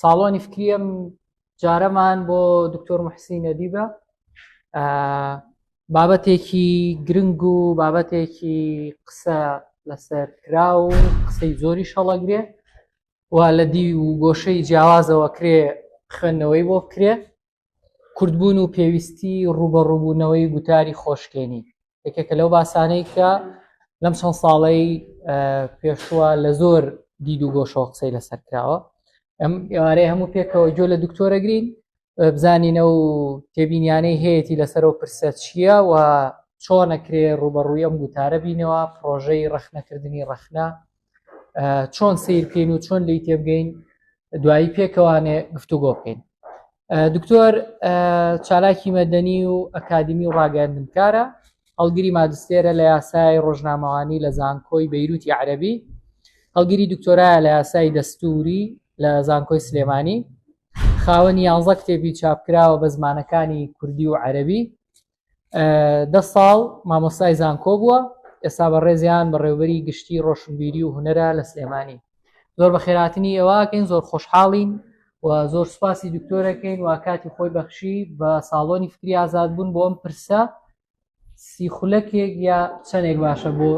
ساڵۆنی فکریم جارەمان بۆ دکتۆر محسینە دیبە بابەتێکی گرنگ و بابەتێکی قسە لەسەر کرا و قسەی زۆری شەڵەگرێ و لە دی و گۆشەی جیاوازەوە کرێ خوێندنەوەی بۆ بکرێ کورتبوون و پێویستی ڕووبەڕووبوونەوەی گوتاری خۆشکێنی یەکێکە لەو باسانەی کە لەم چەند ساڵەی پێشوە لە زۆر دید و گۆشەوە قسەی لەسەر کراوە ئەم ئێوارەیە هەموو پێکەوە جۆ لە دکتۆرەگرین بزانینە و تێبینیانەی هەیەی لەسەرەوە پرسە چییە و چۆنەکرێ ڕوبەڕووی ئەم گوتارە بینەوە پرۆژەی ڕخنەکردنی ڕخنە چۆن سیر بکەین و چۆن لی تێبگەین دوایی پێکەوانێ گفتوگۆ بکەین دکتۆر چالاکی مەدەنی و ئەکادمی و ڕاگەندنکارە هەڵگری مادستێرە لە یاسای ڕۆژنامەوانی لە زانکۆی بەیروتی عەربی هەڵگری دکتۆرایە لە یاسای دەستوری لە زانکۆی سلێمانی خاوەنی یانزە کتێبی چاپکراوە بە زمانەکانی کوردی و عەربی دە ساڵ مامۆستای زانکۆ بووە ئێستا بە ڕێزیان بە ڕێوبەری گشتی ڕۆشنبیری و هوەرە لە سلێمانی زۆر بە خێراتنی ئێوەکەین زۆر خۆشحاڵین و زۆر سوپاسی دکتۆرەکەین و کاتی خۆی بەخشی بە ساڵۆنی فکری ئازاد بوون بۆ ئەم پرسە سی خولەکێک یا چەندێک باشە بۆ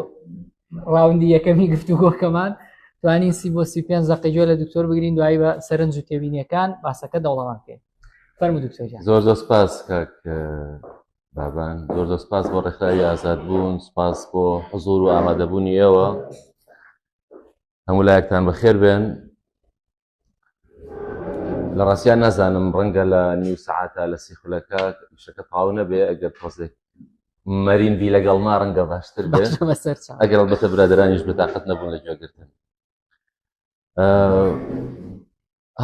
ڕاوندی یەکەمی گفتوگۆکەمان توانین سی بۆ سی پێ زەقیجۆ لە دکتۆر بگرین دوایی بە سەرنج و تێبینیەکان باسەکە دەوڵەمان پێێت زۆر زۆر سپاس کاک بابان زۆر زۆر سپاس بۆ ڕێکخراوی ئازاد بوون سپاس بۆ حزور و ئامادەبوونی ئێوە هەموو لایەکتان بەخێر بێن لە ڕاستیان نازانم ڕەنگە لە نیو سعاتە لە سیخولەکە شەکە پاو نەبێ ئەگەر پۆزێک مەرین بی لەگەڵ ما ڕەنگە باشتر بێ ئەگەر بەتە برادرانیش بەتاقەت نەبوون لە جۆگرتن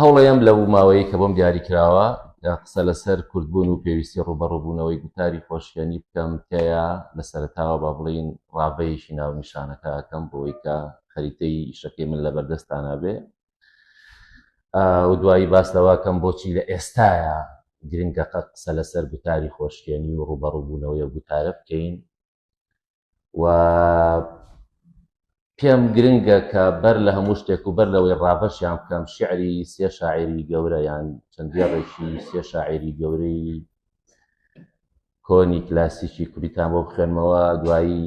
هەوڵەیەم لەو ماوەیە کە بۆم دیاری کراوە قسە لەسەر کوردبوون و پێویستی ڕوبەڕوبوونەوەی گوتاری خۆشیێنی بکەم تێیا لە سەرتاوە با بڵین ڕاڤەیەکی ناو نیشانەکەکەم بۆی کە خەریتەی ئیشەکەی من لە بەردەستانابێ و دوایی باس لەواکەم بۆچی لە ئێستاە گرنگەقە قسە لەسەر گوتاری خۆشکێنی و ڕوبەڕوبوونەوەی گوتارە بکەین و پێم گرنگە کە بەر لە هەموو شتێک و بەر لەوەی ڕابەشیان بکەم شعری سێ شاعری گەورە یان چەندێڕێکی سێ شاعری گەورەی کۆنی کلاسیکی کوریتان بۆ بخوێنمەوە دوایی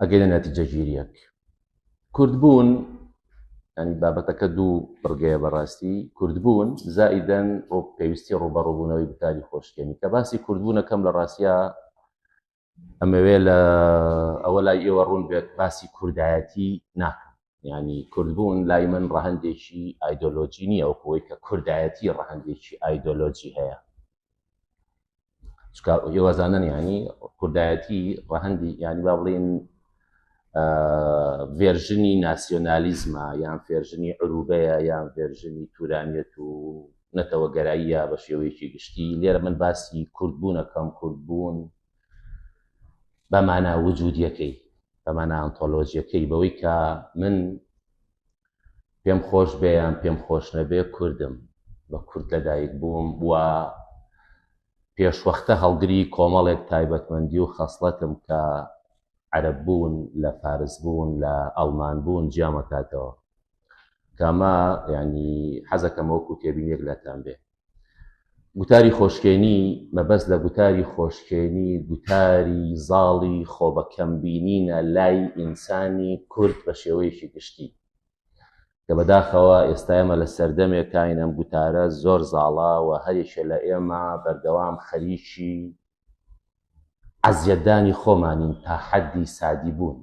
ئەگەینە نەتیجەگیریەک کوردبوون ینی بابەتەکە دوو بڕگەیە بەڕاستی کوردبوون زائیدەن بۆ پێویستی ڕوبەڕوبوونەوەی بتاری خۆشکێنی کە باسی کوردبوونەکەم لە ڕاستە ئەمەوێ لە ئەوە لای ئێوە ڕوون بێت باسی کوردایەتی ناکەم یانی کوردبوون لای من ڕەهندێکی ئایدۆلۆجی نییە و کۆی کە کوردایەتی ڕەهندێکی ئایدۆلۆجی هەیە ئێوەزانن ینی کوردایەتی ڕەهندی ینی با بڵێن ڤێرژنی ناسیۆنالیزمە یان فێرژنی عروبەیە یان ڤێرژنی تورانیت و نەتەوە گەراییە بە شێوەیەکی گشتی لێرە من باسی کوردبوونەکەم کوردبوون بە مانا وجودیەکەی بەمانە ئانتۆلۆژیەکەی بەوەی کە من پێم خۆش بێ یان پێم خۆش نەبێ کوردم بە کورد لەدایک بووم و پێشوەختە هەڵگری کۆمەڵێک تایبەتمەندی و خەسڵەتم کە عەرب بوون لە فارس بوون لە ئەڵمان بوون جیامەکاتەوە کەمە ینی حەزەکەمەوەکو تێبینێک لەتان بێ گوتاری خۆشکێنی مەبەست لە گوتاری خۆشکێنی گوتاری زاڵی خۆبەکەمبینینە لای ئینسانی کورد بە شێوەیەکی گشتی کە بەداخەوە ئێستا ئێمە لە سەردەمێک کاین ئەم گوتارە زۆر زاڵە و هەرێکە لە ئێمە بەردەوام خەریکی عەزیەتدانی خۆمانین تا حەدی سادی بوون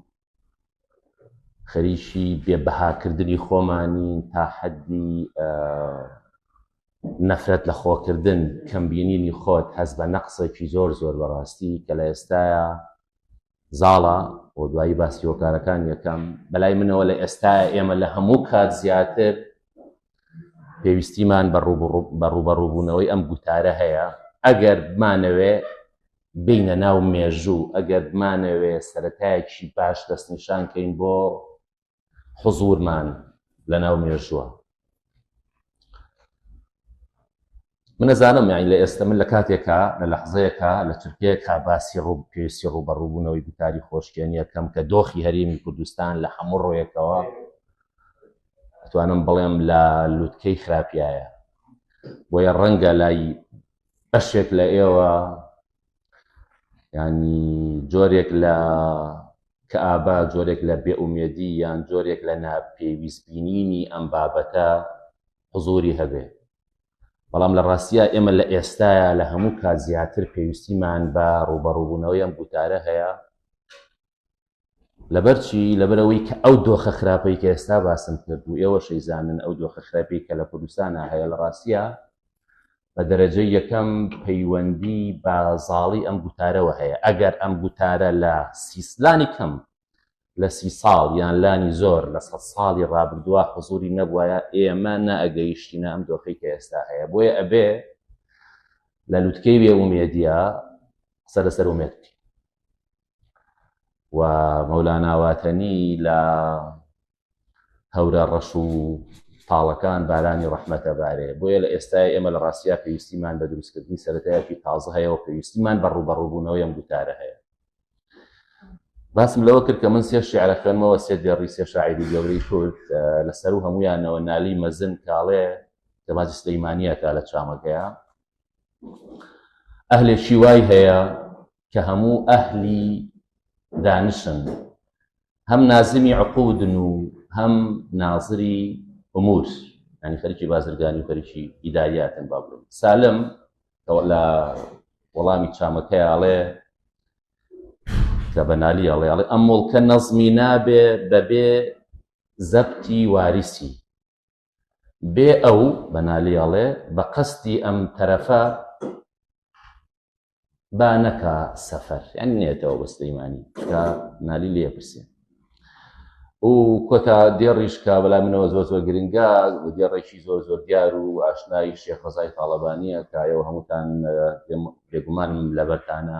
خەریکی بێ بەهاکردنی خۆمانی تا حەدی نەفرەت لە خۆکردن کەمبینینی خۆت هەز بە نەقسێکی زۆر زۆر بەڕاستی کە لە ئێستاە زاڵە بۆ دوایی باسی هۆکارەکان یەکەم بەلای منەوە لە ئێستا ئێمە لە هەموو کات زیاتر پێویستیمان بە ڕوبەڕوبوونەوەی ئەم گوتارە هەیە ئەگەر بمانەوێ بێینە ناو مێژوو ئەگەر بمانەوێ سەرەتایەکی باش دەستنیشان کەین بۆ حزورمان لە ناو مێژووە من نەزانم یانی لە ئێستا من لە کاتێکا لە لەحزەیەکە لە تورکیەکە باسی ڕوو پێویستی ڕووبەڕووبوونەوەی گوتاری خۆشکێنیەکەم کە دۆخی هەرێمی کوردستان لە هەموو ڕۆیەکەوە توانم بڵێم لە لوتکەی خراپایە بۆیە ڕەنگە لای بەشێک لە ئێوە ینی جۆرێک لە کەئابا جۆرێک لە بێئومێدی یان جۆرێک لە ناپێویست بینینی ئەم بابەتە حزوری هەبێ بەڵام لە ڕاستە ئێمە لە ئێستاە لە هەموو کات زیاتر پێویستیمان بە ڕوبەڕوبوونەوەی ئەم گوتارە هەیە لەبەرچی لەبەرەوەی کە ئەو دۆخە خراپەی کە ئێستا باسم کرد و ئێوە شەیزانن ئەو دۆخە خراپی کە لە کوردستانە هەیە لە ڕاستە بە دەرەجە یەکەم پەیوەندی بە زاڵی ئەم گوتارەوە هەیە ئەگەر ئەم گوتارە لە سیسلانی کەم لە سی ساڵ یان لانی زۆر لە سە ساڵی ڕابردووە حزوری نەبووایە ئێمە نەئەگەیشتینە ئەم دۆخی کە ئێستا هەیە بۆیە ئەبێ لە لوتکەی بێ ئومێدیە سەرەسەر ئومێت و مەولاناواتەنی لە هەورە ڕەش و تاڵەکان بارانی ڕەحمەتە بارێ بۆیە لە ئێستای ئێمە لە ڕاستیا پێویستیمان بە دروستکردنی سەرەتایەکی تازە هەیە و پێویستیمان بە ڕوبەڕووبوونەوەی ئەم دوتارە هەیە باسم لەوە کرد کە من سێ شعرە خوێنمەوە سێ دێڕی سێ شاعری گەورەی کورد لەسەر و هەمویانەوە نالی مەزن کاڵێ کە باسی سلەیمانیەکە لە چامەکەیە ئەهلێکی وای هەیە کە هەموو ئەهلی دانشن هەم نازمی عقودن و هەم نازری ئومور ینی خەرکی بازرگانی و خەرکی ئیداریاتن با بڵێن سالم لە وەڵامی چامەکەیاڵێ کە بەنالی ئەڵێ ئەڵێ ئەم مڵکە نەزمی نابێ بەبێ زەبتی واریسی بێ ئەو، بەنالی ئەڵێ، بە قەسدی ئەم تەرەفە با نەکا سەفەر، یانی نێتەوە بە سلیمانی، کە نالی لێ پرسێ. و کۆتا دێڕیش کە بەلا منەوە زۆر زۆر گرنگە دێڕێکی زۆر زۆر دیار و ئاشنایی شێخ ڕزای تاڵەبانیە کایەوە هەمووتان بێگومانم لەبەرتانە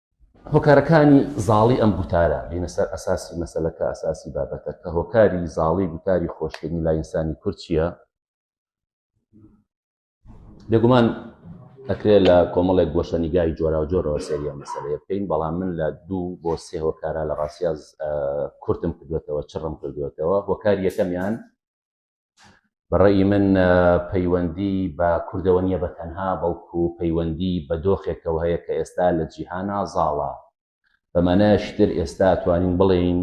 هۆکارەکانی زاڵی ئەم گوتارە بینە سەر ئەساسی مەسلەکە ئەساسی بابەتە کە هۆکاری زاڵی گوتاری خۆشکردنی لای ئینسانی کورد چییە بێگومان ئەکرێ لە کۆمەڵێک گۆشەنیگای جۆراوجۆرەوە سەریە مەسەرەیە بکەین بەڵام من لە دوو بۆ سێ هۆکارا لە ڕاستیاز کورتم کردوێتەوە چڕم کردوێتەوە هۆکار یەکەمیان بەڕێی من پەیوەندی بە کوردەوە نییە بە تەنها بەڵکو پەیوەندی بە دۆخێکەوە هەیە کە ئێستا لە جیهانا زاڵە بەمانایشتر ئێستا توانین بڵێین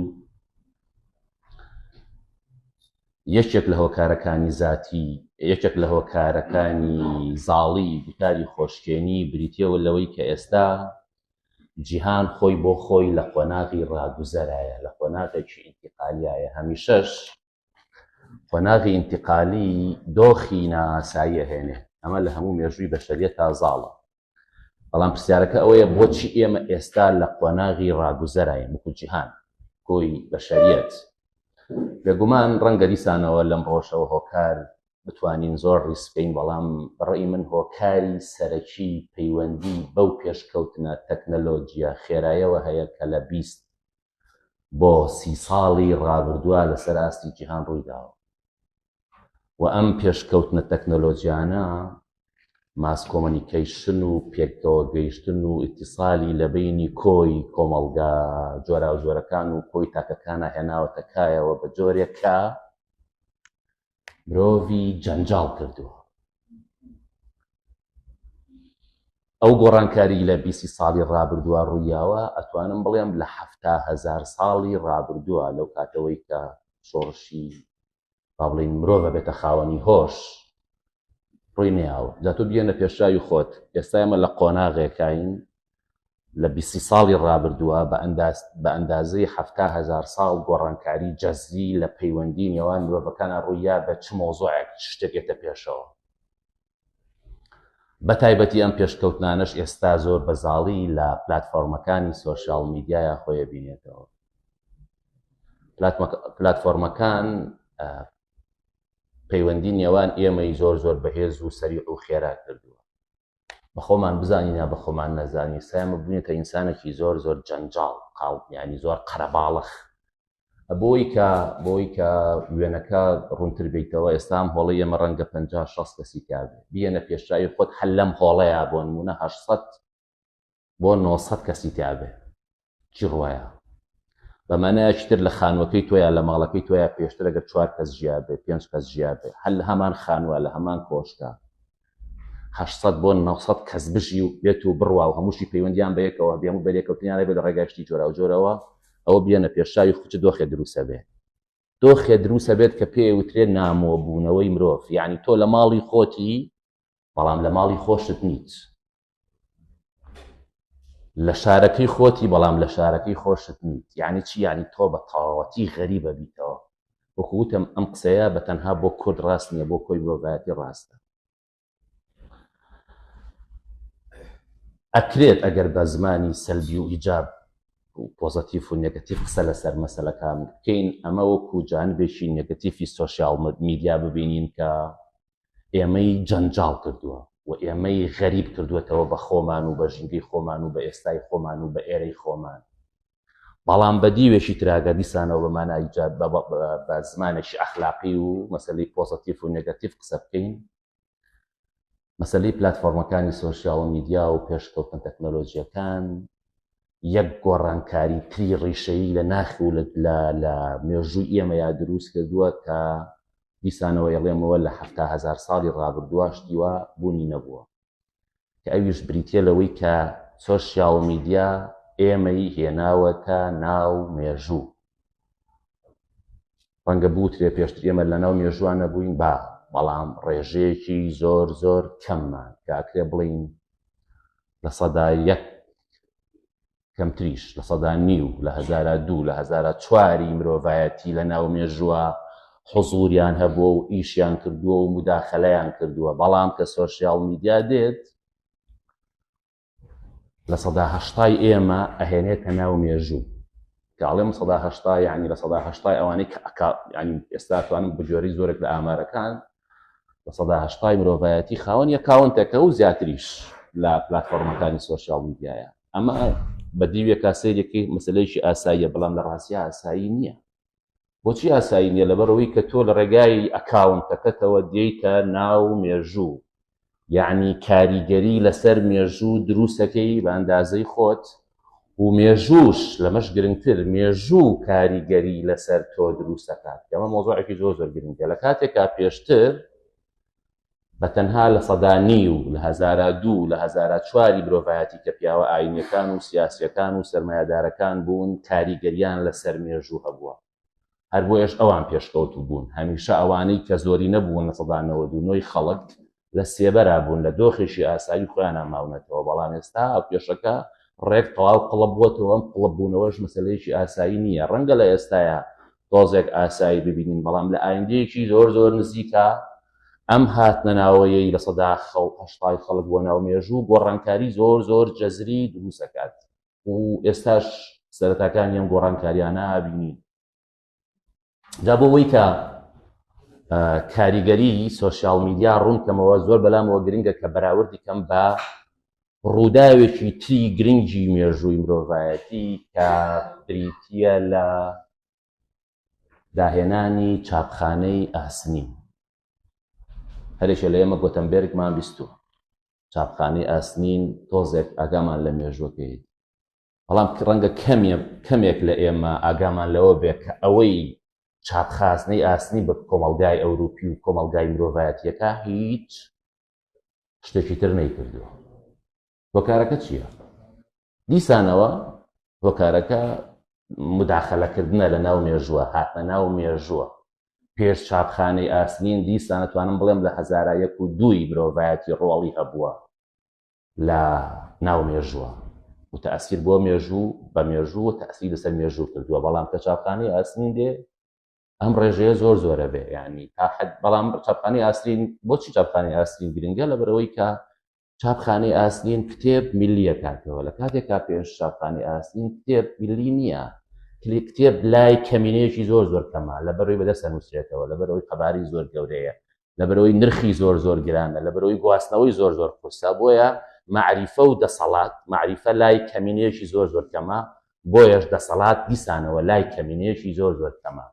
یەکێک لە هۆکارەکانی زاتی یەکێک لە هۆکارەکانی زاڵی گوتاری خۆشکێنی بریتەوە لەوەی کە ئێستا جیهان خۆی بۆ خۆی لە قۆناغی ڕاگوزەرایە لە قۆناغێکی ئینتقالیایە هەمیشەش قۆناغی ئینتیقالی دۆخی نائاسایی ئەهێنێ ئەمە لە هەموو مێژووی بەشەریەت تا زاڵە بەڵام پرسیارەکە ئەوەیە بۆچی ئێمە ئێستا لە قۆناغی ڕاگوزەراین وەکو جیهان کۆی بەشەریەت بێگومان ڕەنگە دیسانەوە لەم ڕۆژەوە هۆکار بتوانین زۆر ڕیسکەین بەڵام بەڕێی من هۆکاری سەرەکی پەیوەندی بەو پێشکەوتنە تەکنەلۆجیە خێرایەوە هەیە کە لە بیست بۆ سی ساڵی ڕابردووە لەسەر ئاستی جیهان ڕوویداوە و ئەم پێشکەوتنە تەکنەلۆجیانە ماس کۆمەنیکەیشن و پێکەوە گەیشتن و ئیتیسالی لە بینی کۆی کۆمەڵگا جۆراوجۆرەکان و کۆی تاکەکانە هێناوەتە کایەوە بە جۆرێکە مرۆڤی جەنجاڵ کردووە ئەو گۆڕانکاری لە بیسی ساڵی ڕابردووە ڕوویاوە ئەتوانم بڵێم لە حەفتا هزار ساڵی ڕابردووە لەو کاتەوەی کە شۆڕشی با بڵین مرۆڤە بێتە خاوەنی هۆش ڕووی نەیاوە جا تۆ بگەێنە پێشاوی خۆت ئێستا ئمە لە قۆناغێکین لە بیستی ساڵی ڕابردووە بە ئەنداز بە ئەندازەی هەفتا هزار ساڵ گۆڕانکاری جەزی لە پەیوەندی نێوان مرۆڤەکانە ڕوویا بە چ مۆزۆعێک شتێکێتە پێشەوە بە تایبەتی ئەم پێشکەوتنانەش ئێستا زۆر بەزاڵی لە پلتفۆرمەکانی سوۆسیال میدیایە خۆیە بینێتەوە پلتفۆرمەکان پەیوەندی نێوان ئێمەی زۆر زۆر بەهێز و سەریع و خێرا کردووە. بە خۆمان بزانین یا بە خۆمان نەزانین، سایمە بووینەتە ئینسانێکی زۆر زۆر جەنجاڵ، قاڵ، یانی زۆر قەرەباڵەخ. بۆی کە، بۆی کە وێنەکە ڕوونتر بێیتەوە، ئێستا ئەم هۆڵەی ئێمە ڕەنگە پەنجا، شەست کەسی تیا بێ. بیێنە پێشچاوی خۆت هەر لەم هۆڵەیا بۆ نموونە هەشت سەد بۆ نۆ سەد کەسی تیابێ چی ڕوایە بە مانایەکی تر لە خانوەکەی تۆیان لە ماڵەکەی تۆیان پێشتر ئەگەر چوار کەس ژیا بێ پێنج کەس ژیا بێ هەر لە هەمان خانوە لە هەمان کۆشکە هەشسەد بۆ نەسەد کەس بژی و بێت و بڕوا و هەمووشی پەیوەندیان بە یەکەوە بێم و بەرێکەوتنیان لەبێت لە ڕێگاشتی جۆرا و جۆرەوە ئەوە بێنە پێشاوی خوچ دۆخێ دروسە بێ دۆخێ دروسە بێت کە پێ وترێ نامۆبوونەوەی مرۆڤ یعنی تۆ لە ماڵی خۆتی بەڵام لە ماڵی خۆشت نیت لە شارەکەی خۆتی بەڵام لە شارەکەی خۆشت نیت یعنی چی یعنی تۆ بە تەواوەتی غەریبە بیتەوە وەکوتم ئەم قسەیە بە تەنها بۆ کورد ڕاست نییە بۆ کۆی مرۆڤایەتی ڕاستە ئەکرێت ئەگەر بە زمانی سەلبی و ئیجاب و پۆزەتیف و نگەتیف قسە لەسەر مەسلەکان بکەین ئەمە وەکو جانبێکی نگەتیفی سوسیال میدیا ببینین کە ئێمەی جەنجاڵ کردووە و ئێمەی غەریب کردووەتەوە بە خۆمان و بە ژینگەی خۆمان و بە ئێستای خۆمان و بە ئێرەی خۆمان. بەڵام بە دیوێکی تراگە دیسانەوە بە مانای جاد بە بە زمانێکی ئەخلاقی و مەسەلەی پۆزەتیف و نێگەتیف قسە بکەین مەسەلەی پلاتفۆرمەکانی سۆشیال میدیا و پێشکەوتن تەکنەلۆژیەکان یەک گۆڕانکاری تری ڕیشەیی لە ناخ و لە مێژووی ئێمەیا درووست کردووە کە دیسانەوە ئەڵێمەوە لە حەفتا هەزار ساڵی ڕابردوواش دیوا بوونی نەبووە کە ئەویش بریتیە لەوەی کە سۆشیاڵ میدیا ئێمەی هێناوەتە ناو مێژوو ڕەنگە بوترێ پێشتر ئێمە لە ناو مێژوان نەبووین با بەڵام ڕێژەیەکی زۆر زۆر کەممان کاکرێ بڵین لە سەدا یەک کەمتریش لە سەدا نیو لە هزارە دوو لە هزارە چواری مرۆڤایەتی لە ناو مێژووە حزوریان هەبووە و ئیشیان کردووە و مداخلەیان کردووە بەڵام کە سۆسیال میدیا دێت لە سەدا هەشتای ئێمە ئەهێنێتە ناو مێژوو کە ئاڵێم سەدا هەشتا یعنی لە سەدا هەشتای ئەوانەی کە ئەکا ینی ئێستا توانم بجۆری زۆرێک لە ئامارەکان بە سەدا هەشتای مرۆڤایەتی خاوەن یە کاونتەکە و زیاتریش لە پلتفۆرمەکانی سوۆسیال میدیایە ئەمە بە دیوێکا سەیرێکی مەسلەیەکی ئاساییە بەڵام لە ڕاستیا ئاسایی نییە بۆچی ئاسایی نییە لەبەرەوەی کە تۆ لە ڕێگای ئەکاونتەکەتەوە دێیتە ناو مێژوو یعنی کاریگەری لەسەر مێژوو دروستەکەی بە ئەندازەی خۆت و مێژووش لەمەش گرنگتر مێژوو کاریگەری لەسەر تۆ دروستەکات ئەمە مۆزۆعێکی زۆر زۆر گرنگە لە کاتێکا پێشتر بە تەنها لە سەدانی و لە هزارا دوو لە هزارا چواری مرۆڤایەتی کە پیاوە ئاینەکان و سیاسەکان و سرمایهدارەکان بوون کاریگەریان لە سەر مێژوو هەبووە هەر بۆیەش ئەوان پێشکەوتوو بوون هەمیشە ئەوانەی کە زۆرینە بوون لە سەدا نەوەد و نۆی خەڵک لە سێبەرا بوون لە دۆخێکی ئاسایی خۆیانە ماونەتەوە بەڵام ئێستا هاوکێشەکە ڕێک تەواو قڵب بووەتەوە ئەم قڵب بوونەوەش مەسلەیەکی ئاسایی نییە ڕەنگە لە ئێستاە تۆزێک ئاسایی ببینین بەڵام لە ئایندەیەکی زۆر زۆر نزیکە ئەم هاتنەناوەیەی لە سەدا خەڵ هەشتای خەڵک بۆ ناو مێژوو گۆڕانکاری زۆر زۆر جەزری دروستەکات و ئێستاش سەرەتاکانی ئەم گۆڕانکاریانە بینی دا بۆ ئەوەی کە کاریگەری سوۆسیال میدیا ڕوون کەمەوە زۆر بەلامەوە گرنگە کە بەراوردی کەم بە ڕووداوێکی تری گرنگی مێژووی مرۆڤایەتی کە بریتە لە داهێنانی چاپخانەی ئاسنین هەرێکە لە ئێمە گۆتەمبێرگمان بیستوە چاپخانەی ئاسنین تۆزێک ئاگامان لە مێژوەکەی بەڵام ڕەنگە کەمێ کەمێک لە ئێمە ئاگامان لەوە بێ کە ئەوەی چاپخازنەی ئاسنی بە کۆمەلگای ئەوروپی و کۆمەلگای مرۆڤایەتیەکە هیچ شتێکی تر نەیکردووە هۆکارەکە چییە؟ دیسانەوە هۆکارەکە مداخلەکردنە لە ناو مێژووە هاتە ناو مێژووە پێش چاپخانەی ئاسنین دیسانەتوانم بڵێم لە هزارا یەک و دووی مرۆڤایەتی ڕۆڵی هەبووە لە ناو مێژووە وتەسیر بۆ مێژوو بە مێژوو و تەسیری لەسەر مێژوو کردووە بەڵام کە چاپخانەی ئاسنین دێ ئەم ڕێژەیە زۆر زۆرە بێ ینی تا حد بەڵام چاپخانی ئاسرین بۆچی چاپخانی ئاسرین گرنگە لە بەرەوەی کە چاپخانەی ئاسنین کتێب ملیە کاتەوە لە کاتێکا پێش چاپخانی ئاسنین کتێب ملی نییە کلی کتێب لای کەمینەیەکی زۆر زۆر کەمە لە بەرەوەی بەدەستە نووسێتەوە لە بەرەوەی قەباری زۆر گەورەیە لە بەرەوەی نرخی زۆر زۆر گرانە لە بەرەوەی گواستنەوەی زۆر زۆر قورسە بۆیە معریفە و دەسەڵات معریفە لای کەمینەیەکی زۆر زۆر کەمە بۆیەش دەسەڵات دیسانەوە لای کەمینەیەکی زۆر زۆر کەمە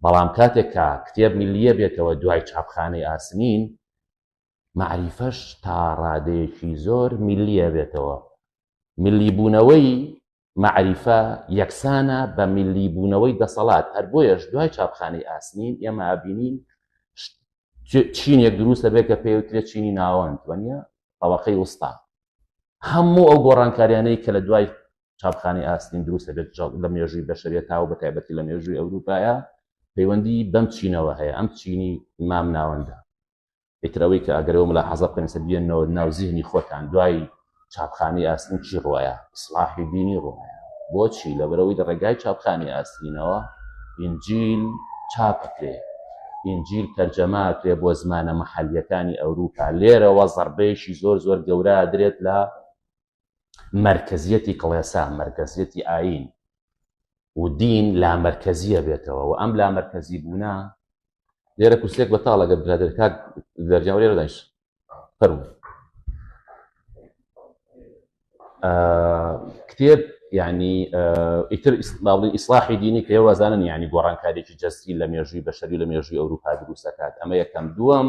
بەڵام کاتێک کە کتێب ملیە بێتەوە دوای چاپخانەی ئاسنین مەعریفەش تا ڕادەیەکی زۆر میللی ئەبێتەوە. میللیبوونەوەی مەعریفە یەکسانە بە میللیبوونەوەی دەسەڵات، هەر بۆیەش دوای چاپخانەی ئاسنین ئێمە ئەبینین چینێک دروست دەبێت کە پێوترێت چینی ناوەند وەنیە ئەوەقەی وستا هەموو ئەو گۆڕانکاریانەی کە لە دوای چاپخانەی ئاسنین دروست دەبێت لە مێژووی بەشەریە تاو بە تایبەتی لە مێژووی ئەوروپایە پەیوەندی بەم چینەوە هەیە ئەم چینی مام ناوەندە ئیتر ئەوەی کە ئەگەرەوە ملاحەزە بکەن سە بێنەوە ناو زیهنی خۆتان دوای چاپخانی ئاسن چی ڕواە ئیسلاحی دینی ڕواە بۆچی لەبەرەوەی لە ڕێگای چاپخانی ئاسینەوە ئینجیل چاپکرێ ئینجیل تەرجەماکرێ بۆ زمانە محەلیەکانی ئەوروپا لێرەوە زەربەیەکی زۆر زۆر گەورە درێت لە مەرکەزیەتی کڵێسا، مەرکەزیەتی ئایین و دین لامەرکەزیە بێتەوە و ئەم لامەرکەزی بوونە لێرە کوسێک بەتاڵە گەر برادر کاک دەرجاو لێرە دایش فەرمو کتێب یعنی ئیتر ئیسلاڵی ئیسلاحی دینی کە وازانن یعنی گۆڕانکارێکی جەستی لە مێژووی بەشەری لە مێژووی ئەوروپا دروستەکات ئەمە یەکەم دووەم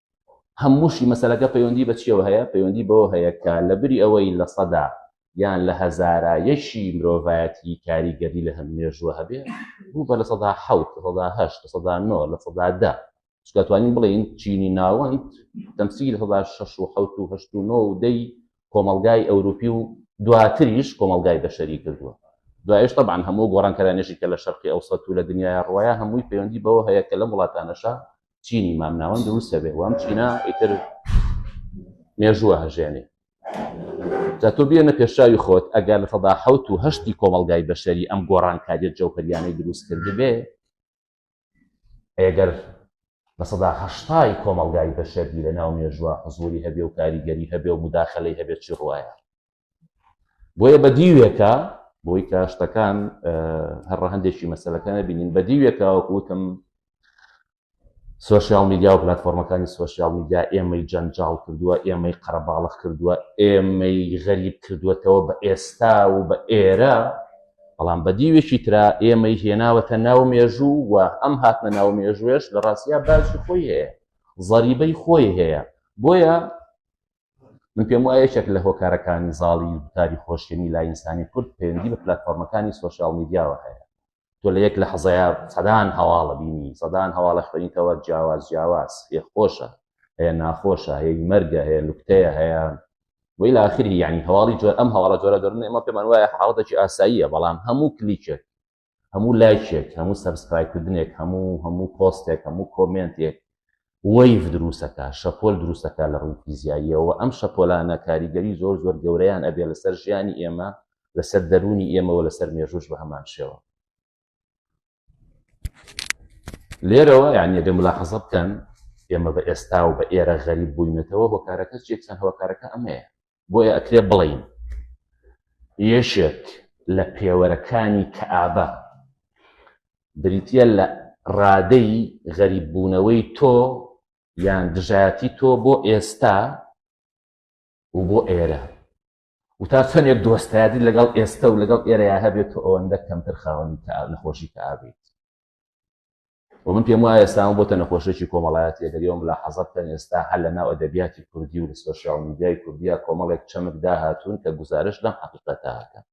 هەمووشی مەسەلەکە پەیوەندی بە چیەوە هەیە پەیوەندی بەوە هەیە کە لە بری ئەوەی لە سەدا یان لە هەزارە یەکی مرۆڤایەتی کاریگەری لە هەم مێژووە هەبێ بوو بە لە سەدا حوت لە سەدا هەشت لە سەدا نۆ لە سەدا دە چکاتوانین بڵێین چینی ناوەند دەمسی لە سەدا شەش و حوت و هەشت و نۆ و دەی کۆمەلگای ئەوروپی و دواتریش کۆمەلگای بەشەری کردووە دوایش طبعاان هەموو گۆڕانکەرانێشی کە لە شەرقی ئەو سەت و لە دنیای ڕواە هەمووی پەیوەندی بەوە هەیە کە لەم وڵاتانەشە چینی مامناوەند دروست دەبێت وام چینا ئیتر مێژووە هەژێنێ جا تۆ بێنە پێشاوی خۆت ئەگەر لە سەدا حوت و هەشتی کۆمەلگای بەشەری ئەم گۆڕانکاریت جەوپەریانەی دروست کردبێ ئەگەر لە سەدا هەشتای کۆمەلگای بەشەری لە ناو مێژووە حزوری هەبێ و کاریگەری هەبێ و مداخلەی هەبێت چی ڕواە بۆیە بە دیوێکە بۆی کە شتەکان هەر ڕەهندێکی مەسلەکانە بینین بە دیوێکە وەکوتم سوۆسیال میدیا و پلتفۆرمەکانی سوۆسیال میدیا ئێمەی جەنجاڵ کردووە ئێمەی قەرەباڵخ کردووە ئێمەی غەریب کردووەتەوە بە ئێستا و بە ئێرە بەڵام بە دیوێکی ترا ئێمەی هێناوەتە ناو مێژوو و ئەم هاتنە ناو مێژوێش لە ڕاستیا باسی خۆی هەیە زەریبەی خۆی هەیە بۆیە من پێم وایە یەکێک لە هۆکارەکانی زاڵی گوتاری خۆشیێنی لاینسانی کورد پەیوەندی بە پلتفۆرمەکانی سوۆسیال میدیاوە هەیە تۆ لە یەک لە حەزەیە سەدان هەواڵە بینی سەدان هەواڵە خوێنیتەوە جیاواز جیاواز هێ خۆشە هەیە ناخۆشە هەیە مەرگە هەیە لوکتەیە هەیە ویلا آخری یعنی هەواڵی جۆر ئەم هەواڵە جۆرە دەرن ئمە پێمان وایە حاڵەتێکی ئاساییە بەڵام هەموو کلیکێک هەموو لایکێک هەموو سەبسکرایکردنێک هەموو هەموو پۆستێک هەموو کۆمنتێک وەیف دروستەکە شەپۆل دروستەکە لە ڕووی فیزیاییەوە ئەم شەپۆلانە کاریگەری زۆر زۆر گەورەیان ئەبێ لەسەر ژیانی ئێمە لەسەر دەرونی ئێمەوە لەسەر مێژوش بە هەمان شێوە لێرەوە یعنی دە ملاحەزە بکەن ئێمە بە ئێستا و بە ئێرە غەریب بووینەتەوە هۆکارەکە چێکسان هۆکارەکە ئەمەیە بۆیە ئەکرێ بڵێین یەکێک لە پێوەرەکانی کەئابە بریتیە لە ڕادەی غەریببوونەوەی تۆ یان دژایەتی تۆ بۆ ئێستا و بۆ ئێرە و تا چەندێک دۆستایەتی لەگەڵ ئێستا و لەگەڵ ئێرەیە هەبێت و ئەوەندە کەمتر خاوەنی نەخۆشی کەئابیت و من پێم وایە ئێستا ئەمە بۆتە نەخۆشێکی کۆمەڵایەتی ئەگەر ئێوە ملاحەزە بکەن ئێستا هەر لە ناو ئەدەبیاتی کوردی و لە سۆشیاڵ میدیای کوردیا کۆمەڵێک چەمک داهاتوون کە گوزارشت لەم حەقیقەتە ئەکەن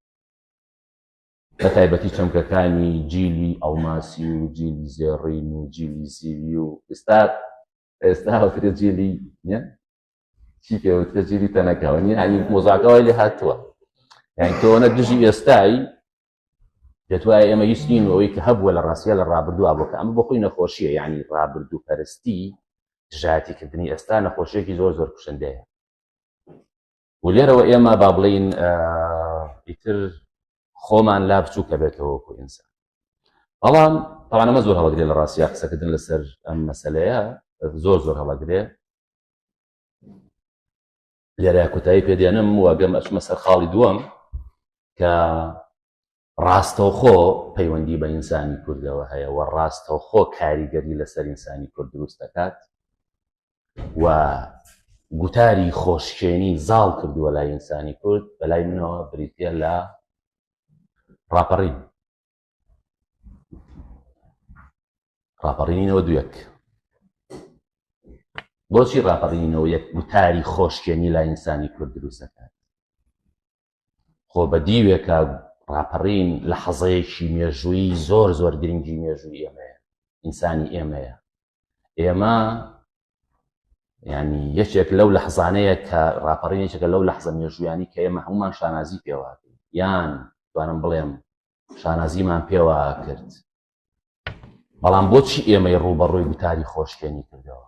بە تایبەتی چەمکەکانی جیلی ئەڵماسی و جیلی زێڕین و جیلی زیوی و ئێستا ئێستا هەوترێ جیلی چی پێوترە جیلی تەنەکەوە یعنی مۆزاکەوای لێ هاتووە یعنی تۆنە دژی ئێستایی دەتوایە ئێمە هیچ نین و ئەوەی کە هەبووە لە ڕاستە لە ڕابردووە بۆکە ئەمە بۆ خۆی نەخۆشیە یعنی ڕابردوو پەرستی دژاتیکردنی ئێستا نەخۆشیێکی زۆر زۆر کوشندەیە و لێرەوە ئێمە با بڵین ئیتر خۆمان لا بچووکە بێتەوە کو ئینسان بەڵام ئەوانەمە زۆر هەڵگرێ لە ڕاستیا قسەکردن لەسەر ئەم مەسلەیە زۆر زۆر هەڵەگرێ لێرە کوتایی پێدێنم وەگەم ئەچمە سەر خاڵی دووەم کە ڕاستەوخۆ پەیوەندی بە ئینسانی کوردەوە هەیە و ڕاستەوخۆ کاریگەری لەسەر ئینسانی کورد دروست دەکات و گوتاری خۆشکێنی زاڵ کردووە لای ئینسانی کورد بەلای منەوە بریتە لە ڕاپەڕین ڕاپەڕینەوە دوێک بۆچی ڕاپەڕینەوە یەک وتاری خۆشکێنی لای ئینسانی کورد دروست دەکات خۆ بە دیوێکە ڕاپەڕین لە حەزەیەکی مێژووی زۆر زۆر گرنگی مێژووی ئێمەیە ئینسانی ئێمەیە ئێمە ینی یەکێک لەو لە حزانەیە کە ڕاپەڕینێکەکە لەو لە حزە مێژویانی کە ئێمە هەمومان شانازی پێوات یان دوانم بڵێم شانازیمان پێوە کرد بەڵام بۆچی ئێمەی ڕووبەڕووی گوتاری خۆشکێنی کردەوە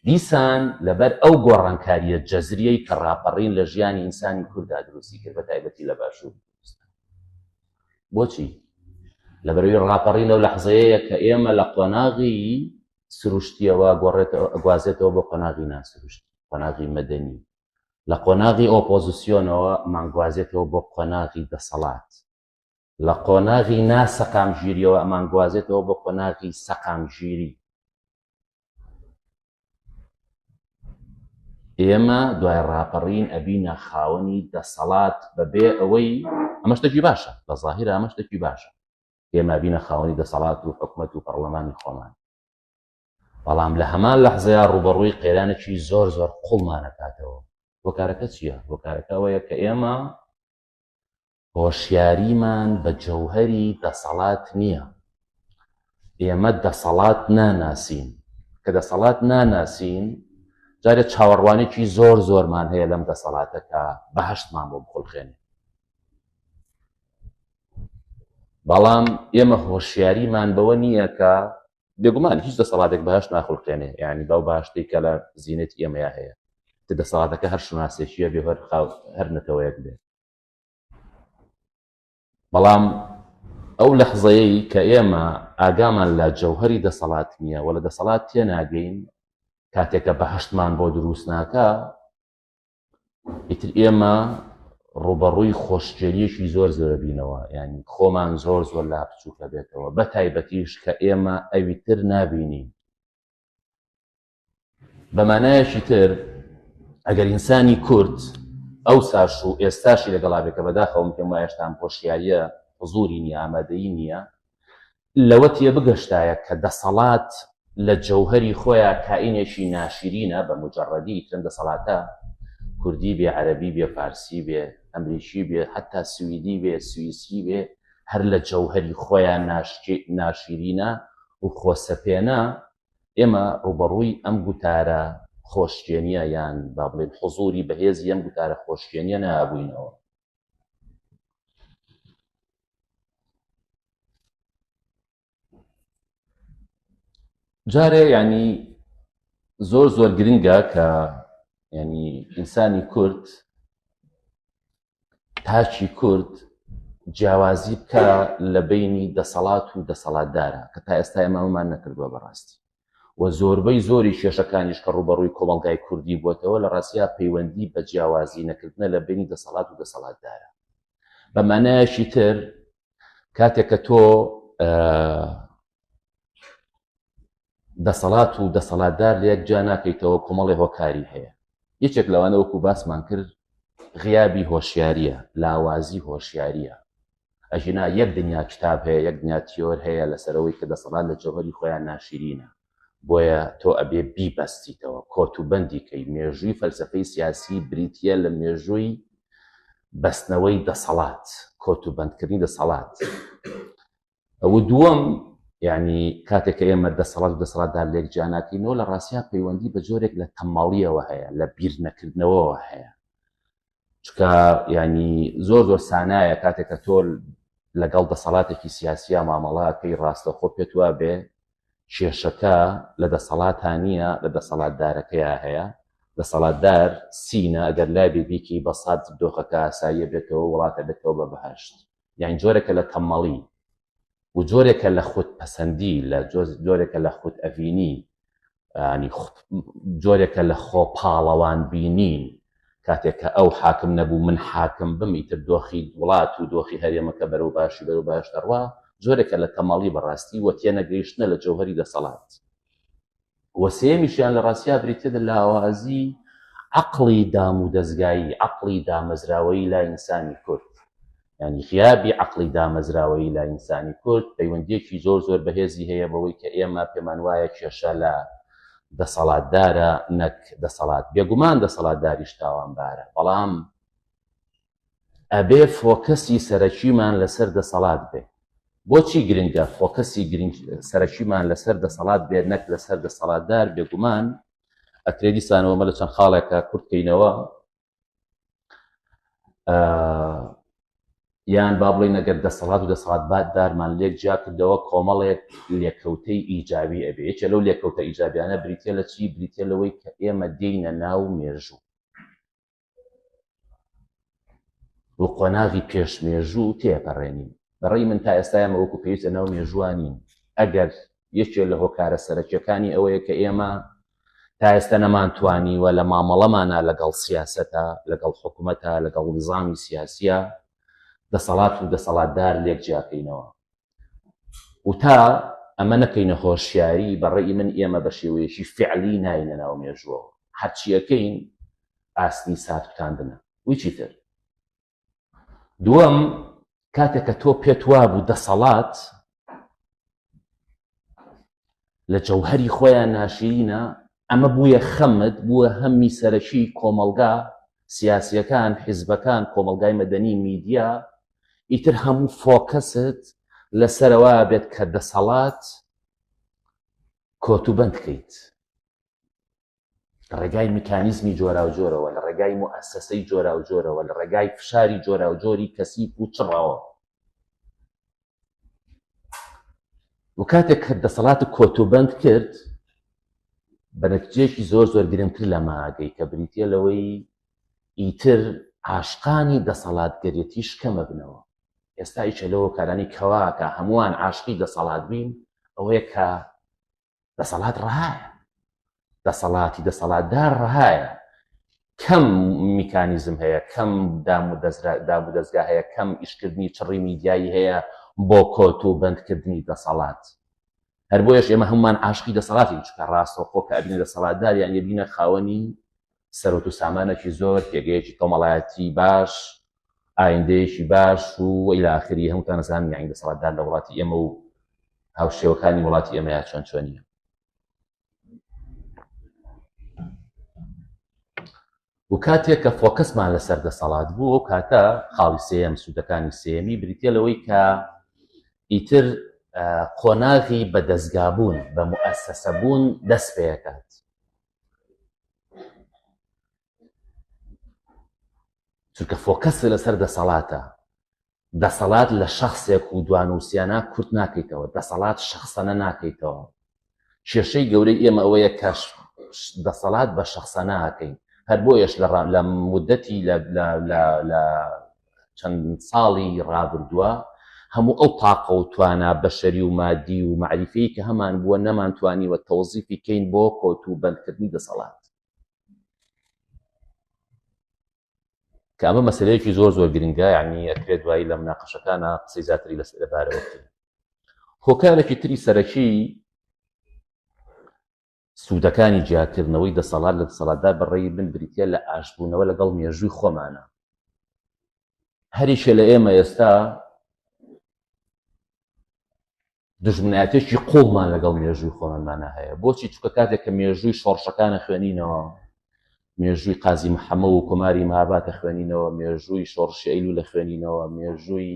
دیسان لەبەر ئەو گۆڕانکاریە جەزریەی کە ڕاپەڕین لە ژیانی ئینسانی کووردا دروستی کرد بە تایبەتی لە باشوور بۆچی لەبەروی ڕاپەڕین لەو لەحزەیە کە ئێمە لە قۆناغی سروشتیەوە گۆڕێتەوە ئەگوازێتەوە بۆ قۆناغی ناسروشت قۆناغی مەدەنی لە قۆناغی ئۆپۆزسیۆنەوە ئەمانگوازێتەوە بۆ قۆناغی دەسەڵات، لە قۆناغی نا سەقامگیریەوە ئەمانگوازێتەوە بۆ قۆناغی سەقامگیری. ئێمە دوای ڕاپەڕین ئەبینە خاوەنی دەسەڵات بەبێ ئەوەی ئەمە شتێکی باشە بە زاهیرە ئەمە شتێکی باشە ئێمە بینە خاوەنی دەسەڵات و حکومەت و پەڕڵەمانی خۆمان بەڵام لە هەمان لەحزەیا ڕووبەڕووی قەیرانێکی زۆر زۆر قوڵمان ئەکاتەوە. هۆکارەکە چییە؟ هۆکارەکە ئەوەیە کە ئێمە هۆشیاریمان بە جەوهەری دەسەڵات نییە. ئێمە دەسەڵات ناناسین. کە دەسەڵات ناناسین، جارێ چاوەڕوانێکی زۆر زۆرمان هەیە لەم دەسەڵاتە کە بەهەشتمان بۆ بخولقێنێ. بەڵام ئێمە هۆشیاریمان بەوە نییە کە بێگومان هیچ دەسەڵاتێک بەهشت ناخولقێنێ یعنی باو باشتەی کە لە زیینەتی ئێمەیە هەیە کە دەسەڵاتەکە هەر شوناسێکیە بێ هەر خاو هەر نەتەوەیەک بێ بەڵام ئەو لەحزەیەی کە ئێمە ئاگامان لە جەوهری دەسەڵات نییە و لە دەسەڵات تێناگەین کاتێکە بەهشتمان بۆ دروست ناکە ئیتر ئێمە ڕوبەڕووی خۆشگێریەکی زۆر زۆر بینەوە ینی خۆمان زۆر زۆر لا بچووکە بێتەوە بە تایبەتیش کە ئێمە ئەوی تر نبینین بەمانایەکی تر ئەگەر ئینسانی کورد ئەو ساش و ئێستاشی لەگەڵا بێکە بەداخەوم پێم وایشتان هۆشیاریە حزوری نیە ئامادەی نییە لەوە تێبگەشتایە کە دەسەڵات لە جەوهەری خۆیا کائینێکی ناشیرینە بە موجەڕەدی، ئیتر ئەم دەسەڵاتە کوردی بێ، عەرەبی بێ، فارسی بێ، ئەمریکی بێ، حەتتا سویدی بێ، سویسری بێ، هەر لە جەوهەری خۆیا ناشیرینە و خۆسەپێنە، ئێمە ڕووبەڕووی ئەم گوتارە خۆشکێنییە یان با بڵێین حزووری بەهێزی ئەم گوتارە خۆشکێنییە نابووینەوە. جارێ ینی زۆر زۆر گرنگە کە ینی ئینسانی کورد تاچی کورد جیاوازی بکە لە بینی دەسەڵات و دەسەڵاتدارە کە تا ئێستا ئێمامان نەکردووە بەڕاستی و زۆربەی زۆری کێشەکانیش کە ڕووبەڕووی کۆمەڵگای کوردی بووەتەوە لە ڕاستیا پەیوەندی بە جیاوازی نەکردنە لە بەینی دەسەڵات و دەسەڵاتدارە بە مانایەکی تر کاتێک کە تۆ دەسەڵات و دەسەڵاتدار لە یەک جا ناکەیتەوە کۆمەڵی هۆکاری هەیە یەکێک لەوانە وەکو باسمان کرد غیابی هۆشیاریە لاوازی هۆشیاریە ئەگینا یەک دنیا کتاب هەیە یەک دنیا تیۆر هەیە لەسەرەوەی کە دەسەڵات لە جەوهەری خۆیان ناشیرینە بۆیە تۆ ئەبێ بیبەستیتەوە کۆت و بەندی کەی مێژووی فەلسەفەی سیاسی بریتە لە مێژووی بەستنەوەی دەسەڵات کۆت و بەندکردنی دەسەڵات ئەو دووەم یعنی کاتێک کە ئێمە دەسەڵات دەسەڵاتدار لێک جیاناکەینەوە لە ڕاستیا پەیوەندی بە جۆرێک لە تەماڵیەوە هەیە لە بیر نەکردنەوەەوە هەیە چکە ینی زۆر زۆر سانایە کاتێک کە تۆل لەگەڵ دەسەڵاتێکی سیاسیە مامەڵاتکەی ڕاستەخۆ پێت وا بێ کێشەکە لە دەسەڵاتە نییە لە دەسەڵاتدارەکەیە هەیە دەسەڵاتدار سینە ئەگەر لای بێبیکی بەسات دۆخەکە ئاساییە بێتەوە وڵاتە بێتەوە بە بەهشت یان جۆرێکە لە تەمەڵی و جۆرێکە لە خود پەسەندی لە جۆرێکە لە خود ئەڤینی جۆرێکە لە خۆ پاڵەوان بینین کاتێک کە ئەو حاکم نەبوو من حاکم بم ئیتر دۆخی وڵات و دۆخی هەرێمەکە بەرەو باشی بەرەو باش دەڕوا جۆرێکە لە تەمەڵی بەڕاستی وە تێنەگەیشتنە لە جەوهری دەسەڵات و سێیەمیشیان لە ڕاستیا بریتیە لە لاوازی عەقڵی دامودەزگایی، عەقڵی دامەزراوەیی لای ئینسانی کورد. یانی غیابی عەقڵی دامەزراوەیی لای ئینسانی کورد پەیوەندییەکی زۆر زۆر بەهێزی هەیە بەوەی کە ئێمە پێمان وایە کێشە لە دەسەڵاتدارە نەک دەسەڵات. بێگومان دەسەڵاتداریش تاوانبارە، بەڵام ئەبێ فۆکەسی سەرەکیمان لەسەر دەسەڵات بێ. بۆچی گرنگە فۆکەسی گرنگ سەرەکیمان لەسەر دەسەڵات بێ نەک لەسەر دەسەڵاتدار بێگومان ئەکرێ دیسانەوە مە لە چەند خاڵێکە کورتکەینەوە یان با بڵێ نەگەر دەسەڵات و دەسەڵات بات دارمان لێک جیا کردەوە کۆمەڵێک لێکەوتەی ئیجابی ئەبێ یەکێ لەو لێکەوتە ئیجابیانە بریتە لە چی بریتە لەوەی کە ئێمە دێینە ناو مێژوو و قۆناغی پێش مێژوو تێپەڕێنین بەڕێی من تا ئێستا ئەمە وەکو پێویستە ناو مێژوانین ئەگەر یەکێ لە هۆکارە سەرەکیەکانی ئەوەیە کە ئێمە تا ئێستا نەمانتوانیوە لە مامەڵەمانە لەگەڵ سیاستە لەگەڵ حکوومەتە لەگەڵ نظامی سیاسیە دەسەڵات و دەسەڵاتدار لێک جیاکەینەوە و تا ئەمە نەکەینە هۆشیاری، بە ڕەئی من ئێمە بە شێوەیەکی فیعلی ناینە ناو مێژووەوە. هەرچی ئەکەین ئاستی ساتکوتاندنە. ویچی تر. دووەم، کاتێک کە تۆ پێت وابوو دەسەڵات لە جەوهەری خۆیان ناشیرینە، ئەمە بوویە خەمت، بووە هەممی سەرەکی کۆمەڵگا، سیاسیەکان، حیزبەکان، کۆمەڵگای مەدەنی، میدیا، ئیتر هەموو فۆکەست لەسەرەوە بێت کە دەسەڵات کۆتوبەند کەیت. لە ڕێگای میکانیزمی جۆراوجۆرەوە لە ڕێگای موئەسەسەی جۆراوجۆرەوە لە ڕێگای فشاری جۆراوجۆری کەسیف و چڕەوە و کاتێک کە دەسەڵات کۆتوبند کرد بە نەتجێکی زۆر زۆر گرنگتر لە ماگەی کە بریتە لەوەی ئیتر عاشقانی دەسەڵاتگەرێتی شکەمە بنەوە ئێستا ئیچە لەوە کارانی کەواکە هەمووان عاشقی دەسەڵات بین ئەوەیە کە دەسەڵات ڕەهایە دەسەڵاتی دەسەڵاتدار ڕەهایە کەم میکانیزم هەیە کەم دام و دام و دەستگا هەیە کەم ئیشکردنی چڕی میدیایی هەیە بۆ کۆت و بەندکردنی دەسەڵات هەر بۆیش ئێمە هەمومان عاشقی دەسەڵاتی چکە ڕاستەوخۆ کە ئەبینە دەسەڵاتدار یان یبینە خاوەنی سەرۆت و سامانێکی زۆر پێگەیەکی کۆمەڵایەتی باش ئایندەیەکی باش و ئیلاخری هەمووتان زان یانی دەسەڵاتدار لە وڵاتی ئێمە و هاوشێوەکانی وڵاتی ئێمەیان چۆن چۆنیە و کاتێک کە فۆکەسمان لەسەر دەسەڵات بوو ئەو کاتە خاڵی سێم سوودەکانی سێمی بریتە لەوەی کە ئیتر قۆناغی بەدەستگابوون بە مؤسسەبوون دەست پێکات چونکە فۆکەس لەسەر دەسەڵاتە دەسەڵات لە شخصێک و دوانوسیانە کورت ناکەیتەوە دەسەڵات شخصەنە ناکەیتەوە کێشەی گەورەی ئێمە ئەوەیە کەش دەسەڵات بە شخصەناکەین هەر بۆیەش لە لە مدەتی لە چەند ساڵی ڕابردووە هەموو ئەو تاقە و توانا بەشەری و مادی و مەعریفیی کە هەمان بووە نەمانتوانیوە تەوزیفی کەین بۆ کۆتوبەندکردنی دەسەڵات. کە ئەمە مەسەلەیەکی زۆر زۆر گرنگە یانی ئەکرێت دوایی لە مناقەشەکانە قسەی زیاتری لەس لەبارەوە بکەین. هۆکارێکی تری سەرەکی سوودەکانی جیاکردنەوەی دەسەڵات لە دەسەڵاتدار بە ڕێی من بریتییە لە ئاشتبوونەوە لەگەڵ مێژووی خۆمانا. هەریەکێ لە ئێمە ئێستا دژمنایەتێکی قوڵمان لەگەڵ مێژووی خۆمانمانە هەیە بۆچی چکە کاتێک کە مێژووی شۆڕشەکانە خوێنینەوە مێژووی قازی محەمە و کۆماری ماباتە خوێنینەوە مێژووی شۆڕشی ئەیلو لە خوێنینەوە مێژووی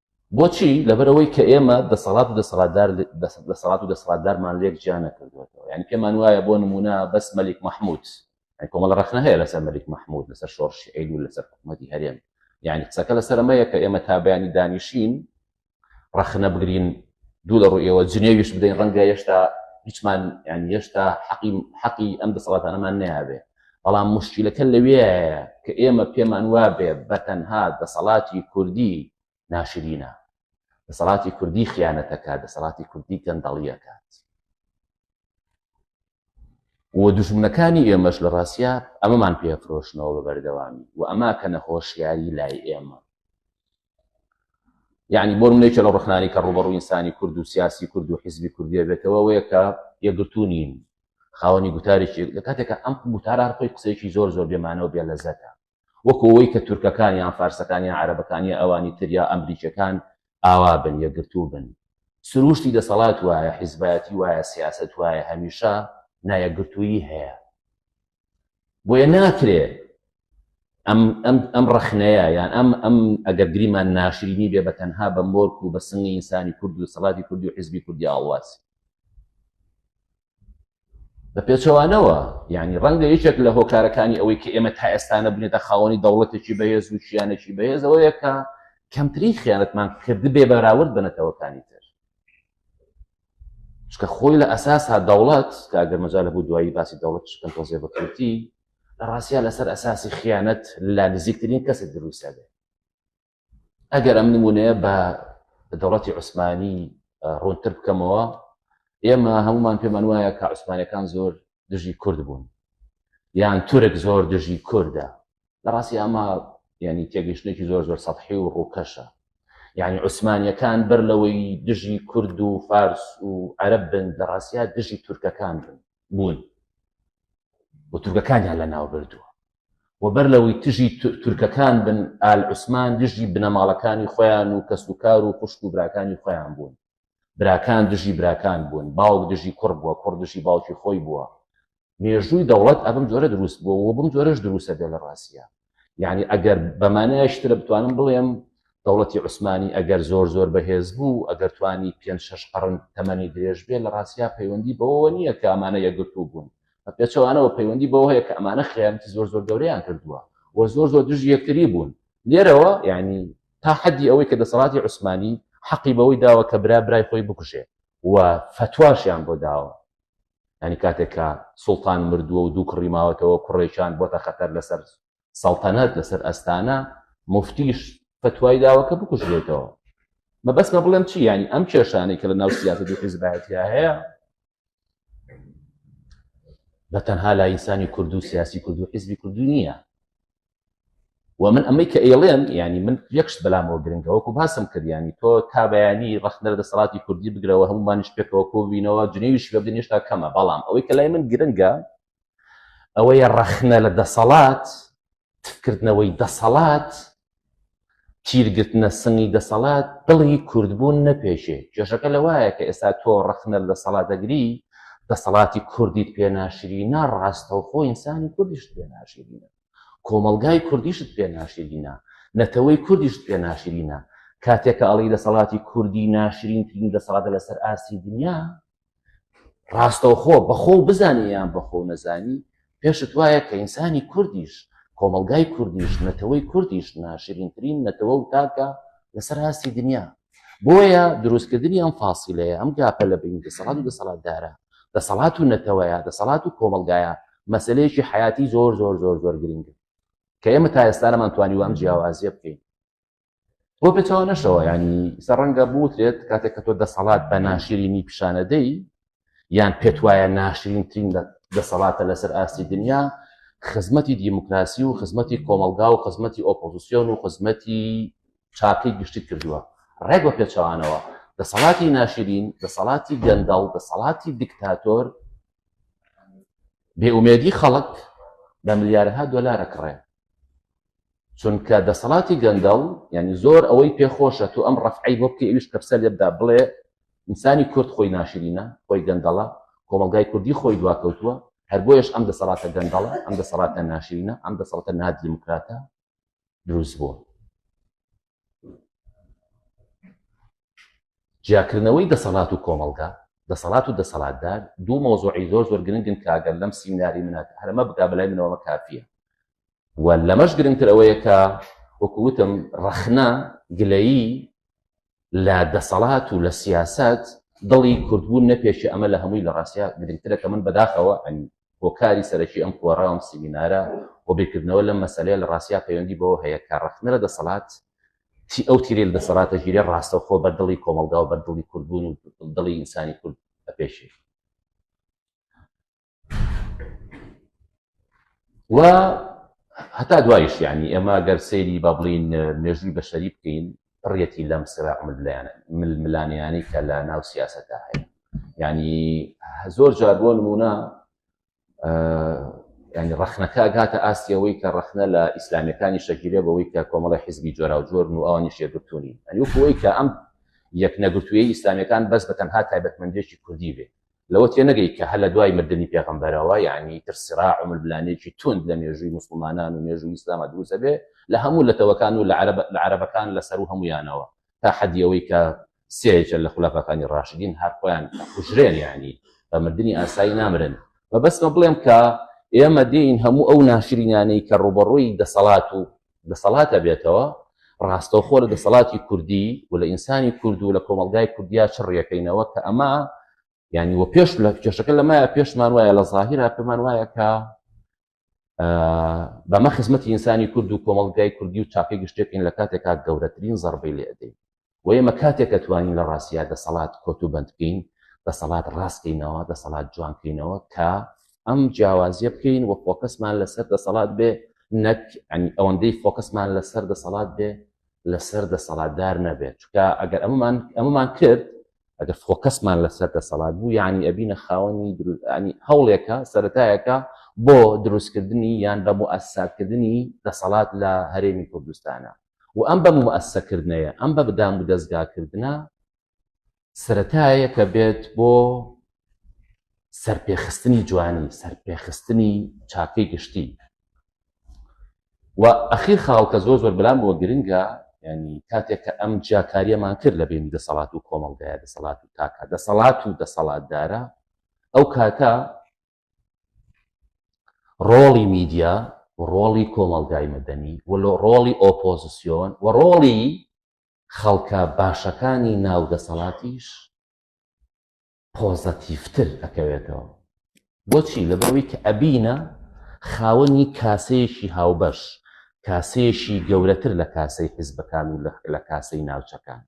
بۆچی لەبەرەوەی کە ئێمە دەسەڵات و دەسەڵاتدار دەسەڵات و دەسەڵاتدارمان لێک جیا نەکردوێتەوە یعنی پێمان وایە بۆ نمونە بەس مەلیک مححمود کۆمەڵ ڕخنە هەیە لەسەر مەلیک مححمود لەسەر شۆڕشی عید و لەسەر حکوومەتی هەرێم یعنی قسەکە لەسەر ئەمەیە کە ئێمە تا بەیانی دانیشین ڕخنە بگرین دوو لە ڕوو ئێوە جنێویش بدەین ڕەنگە هێشتا هیچمان یان هێشتا حەقی حەقی ئەم دەسەڵاتانەمان نابێت بەڵام موشکیلەکە لەوێیە کە ئێمە پێمان وابێ بە تەنها دەسەڵاتی کوردی ناشرینە، دەسەڵاتی کوردی خیانەتەکە، دەسەڵاتی کوردی گەندەڵیەکات. و دوژمنەکانی ئێمەش لە ڕاستیا ئەمەمان پێفرۆشنەوە بە بەردەوامی و ئەماکەنە هۆشیاری لای ئێمە. یعنی بۆ منێکی لە ڕخنانی کە ڕوبەڕوو ئینسانی کورد و سیاسی کورد و حیزبی کوردیە بێتەوە وەیە کە یەکگرتوو نین خاوەنی گوتارێکی لە کاتێکە ئەم گوتارە هەر خۆی قسەیەکی زۆر زۆر بێمانەوە بێ لەزەتە وەکەوەی کە تورکەکان یان فارسەکانیان عربەکانی ئەوانی تر یا ئەمریکەکان ئاوا بن یەکگرتوو بن سروشتی دەسەڵات وایە حیزبایەتی وایە سیاست وایە هەمیشە نایەکگرتوویی هەیە بۆیە ناکرێ ئەم ئەم ئەم ڕەخنەیە یان ئەم ئەم ئەگەر گریمان ناشرینی بێ بە تەنها بە مۆرک و بە سنگی ئینسانی کورد و سەڵاتی کوردی و حزبی کوردی ئاڵواسی بە پێچەوانەوە یعنی ڕەنگە یەکێک لە هۆکارەکانی ئەوەی کە ئێمە تا ئێستانە بنێتە خاوەنی دەوڵەتێکی بەهێز و شیانێکی بەهێز ئەوەیە کە کەمتری خیانەتمان کردبێ بەراورد بە نەتەوەکانی تر چکە خۆی لە ئەساسا دەوڵەت کە ئەگەر مەجا لە بوو دوایی باسی دەوڵەت شکن تۆزێ بەکرتی لە ڕاستە لەسەر ئەساسی خیانەت لا نزیکترین کەسە دروستە بێ ئەگەر ئەم نمونەیە بە دەوڵەتی عوسمانی ڕوونتر بکەمەوە ئێمە هەمومان پێمان وایە کە عوسمانەکان زۆر دژی کورد بوون یان تورک زۆر دژی کوردە لە ڕاستی ئەمە ینی تێگەشتێکی زۆر زۆر سەحی و ڕووکەشە یعنی عوسمانیەکان بەر لەوەی دژی کورد و فارس و عەرب بن لە ڕاستیا دژی تورکەکان بن بوون و تورکەکانیان لە ناو بردووە و بەر لەوەی تژی تورکەکان بن ئال عوسمان دژی بنەماڵەکانی خۆیان و کەسوکار و خوشک و براکانی خۆیان بوون براکان دژی براکان بوون باوک دژی کوڕ بووە کوڕ دژی باوکی خۆی بووە مێژووی دەوڵەت ئەبم جۆرە دروست بووە و بم جۆرەش دروستە بێ لە ڕاستە یعنی ئەگەر بەمانایشترە بتوانم بڵێم دەوڵەتی عوسمانی ئەگەر زۆر زۆر بەهێز بوو ئەگەر توانی پێ شش قڕن تەمەنی درێژ بێ لە ڕاستیا پەیوەندی بەوە نییە کە ئەمانە یەگرتو بوون بە پێچەوانەوە پەیوەندی بەوە هەیە کە ئەمانە خیانەتی زۆر زۆر گەوریان کردووە و زۆر زۆر دژ یەکتری بوون لێرەوە یعنی تا حەدی ئەوەی کە دەسەڵاتی عوسمانی حەقی بەوەی داوە کە برا برای خۆی بکوژێ و فتواشیان بۆ داوە یانی کاتێک کە سوڵتان مردووە و دوو کوڕی ماوەتەوە کوڕێکیان بۆتە خەتەر لەسەر سەڵتەنەت لەسەر ئەستانە مفتیش فتوای داوە کە بکوژێتەوە مەبەستمە بڵێم چی ینی ئەم کێشانەی کە لە ناو سیاست و حیزبایەتیا هەیە بە تەنها لایسانی کورد و سیاسی کورد و حیزبی کوردو نییە و من ئەمەی کە ئەیڵێم ینی من یەکشت بەلامەوە گرنگە وەکو باسم کردیانی تۆ تا بەیانی ڕخنەر دەسەڵاتی کوردی بگرەوە هەمومانیش پێکەوە کۆبینەوە جنێویش بەبدن هێشتا کەمە بەڵام ئەوەی کە لای من گرنگە ئەوەیە ڕەخنە لە دەسەڵات تفکردنەوەی دەسەڵات تیر گرتنە سنگی دەسەڵات دڵی کوردبوون نەپێکێ، کێشەکە لەوایە کە ئێستا تۆ ڕەخنە لە دەسەڵات دەگری، دەسەڵاتی کوردیت پێ ناشرینە، ڕاستەوخۆ ئینسانی کوردیشت پێ ناشرینە، کۆمەڵگای کوردیشت پێ ناشرینە، نەتەوەی کوردیشت پێ ناشرینە، کاتێک کە ئەڵێی دەسەڵاتی کوردی ناشرینترین دەسەڵاتە لەسەر ئاستی دنیا، ڕاستەوخۆ بەخۆ و بزانانی یان بەخۆ و نەزانی پێشت وایە کە ئینسانی کوردیش کۆمەلگای کوردیش نەتەوەی کوردیش ناشرینترین نەتەوە و تاکە لەسەر هاستی دنیا بۆیە دروستکردنی ئەم فاسیلەیە ئەم گاپە لە بین دەسەڵات و دەسەڵاتدارە دەسەڵات و نەتەوەیە دەسەڵات و کۆمەلگایە مەسلەیەکی حیاتی زۆر زۆر زۆر زۆر گرنگە کە ئێمە تا ئێستانەمان توانی وام جیاوازیە بکەین بۆ پێچوانەشەوە ینی سەرڕەنگە بوترێت کاتێک کە تۆ دەسەڵات بە ناشرینی پیشانەدەی یان پێت وایە ناشرینترین دەسەڵاتە لەسەر ئاستی دنیا خزمەتی دیموکراسی و خزمەتی کۆمەلگا و خزمەتی ئۆپۆزیسیۆن و خزمەتی چاکەی گشتی کردووە ڕێک بە پێچوانەوە دەسەڵاتی ناشرین دەسەڵاتی گەندەڵ دەسەڵاتی دیکتاتۆر بێئومێدی خەڵک بە ملیارها دۆلارە کڕێن چونکە دەسەڵاتی گەندەڵ یعنی زۆر ئەوەی پێ خۆشە تۆ ئەم ڕەفعەی بۆ بکەی ئەویش کەپسە لێ بدا بڵێ ئینسانی کورد خۆی ناشرینە خۆی گەندەڵە کۆمەڵگای کوردی خۆی دواکەوتووە هەر بۆیەش ئەم دەسەڵاتە گەندەڵە ئەم دەسەڵاتە ناشرینە ئەم دەسەڵتە نادیموکراتە دروست بووە جیاکردنەوەی دەسەڵات و کۆمەڵگا، دەسەڵات و دەسەڵاتدار دوو مەوزوعی زۆر زۆر گرنگن کە ئەگەر لەم سیمیناری منە هەر ئەمە بکا بەلای منەوە ئەمە کافییە و لەمەش گرنگتر ئەوەیە کە وەکو وتم ڕەخنە گلەیی لە دەسەڵات و لە سیاست دڵی کوردبوون نەپێشێ ئەمە لە هەمووی لە ڕاستیا گرنگترە کە من بەداخەوە ئەنی هۆکاری سەرەکی ئەم کۆڕە و ئەم سیمینارە و بیرکردنەوە لەم مەسەلەیە لە ڕاستیا پەیوەندی بەوە هەیە کە ڕەخنە لە دەسەڵات تی ئەو تیرەی لە دەسەڵات دەگیرێ ڕاستەوخۆ بەر دڵی کۆمەڵگا و بەر دڵی کوردبوون و دڵی ئینسانی کورد ئەپێشێ و هەتا دوایش یعنی ئێمە گەر سەیری با بڵین مێژووی بەشەری بکەین پڕیەتی لەم سرە ململانە ململانێیانەی کە لە ناو سیاسەتدا هەیە یعنی زۆر جار بۆ نمونە ینی ڕخنەکە ئەگاتە ئاستیەوەی کە ڕخنە لە ئیسلامیەکانی شەکیلێ بەوەی کە کۆمەڵی حزبی جۆرا و جۆر و ئەوانی شێگرتونی ئەنیوەی کە ئەم یەک نەگرتووی ئیسلامیەکان بەس بە تەنها تایبەتمەندێکی کوردی بێ لەوە تێنەگەی کە هەر لە دوای مردنی پێغەمبەرەوە یانی ئیتر سراع و ململانێکی توند لە مێژووی موسڵمانان و مێژووی ئیسلاما دروست ئەبێ لە هەموو لەتەوەکان و لە عەرەب لە عەرەبەکان لە سەروو هەموویانەوە تا حەدی ئەوەی کە سێیەکێ لە خولەفاکانی ڕاشدین هەر خۆیان ئەکوژرێن یانی بە مردنی ئاسایی نامرن مەبەستمە بڵێم کە ئێمە دێین هەموو ئەو ناشرینانەی کە ڕووبەڕووی دەسەڵات و دەسەڵات ئەبێتەوە ڕاستەوخۆ لە دەسەڵاتی کوردی و لە ئینسانی کورد و لە کۆمەلگای کوردیا چ ڕێکەینەوە کە ئەمە ینی وە پێش لە کێشەکە لەمایە پێشمان وایە لە ظاهرا پێمان وایە کە بەمە خزمەتی ئینسانی کورد و کۆمەلگای کوردی و چاکەی گشتێکین لە کاتێکا گەورەترین زەربەی لێدەین و ئێمە کاتێک کە توانین لە ڕاستیا دەسەڵات کۆت و بەند بکەین دەسەڵات ڕاست کەینەوە دەسەڵات جوان کەینەوە کە ئەم جیاوازیە بکەین و فۆکەسمان لەسەر دەسەڵات بێ نەک ئەنی ئەوەندەی فۆکەسمان لەسەر دەسەڵات بێ لەسەر دەسەڵاتدار نەبێت چکە ئەگەر ئەمەمان ئەمەمان کرد ئەگەر فۆکەسمان لەسەر دەسەڵات بوو یعنی ئەبینە خاوەنی دروستنی هەوڵێکە سەتایەکە بۆ دروستکردنی یان بە موئسساکردنی دەسەڵات لە هەرێمی کوردستانە و ئەم بە مومئەسسەکردنەیە، ئەم بە دامودەزگاکردنە سەرەتایەکە بێت بۆ سەرپێخستنی جوانی، سەرپێخستنی چاکەی گشتی. و ئەخیر خاڵ کە زۆر زۆر بەلام بۆ گرنگە، یانی کاتێک کە ئەم جیاکاریەمان کرد لە بینی دەسەڵات و کۆمەڵگایە، دەسەڵات و تاکە، دەسەڵات و دەسەڵاتدارە، ئەو کاتە ڕۆڵی میدیا و ڕۆڵی کۆمەڵگای مەدەنی و ڕۆڵی ئۆپۆزسیۆن و ڕۆڵی خەڵکە باشەکانی ناو دەسەڵاتیش پۆزەتیڤتر ئەکەوێتەوە. بۆچی؟ لەبەرئەوەی کە ئەبینە خاوەنی کاسەیەکی هاوبەش، کاسەیەکی گەورەتر لە کاسەی حیزبەکان و لە کاسەی ناوچەکان.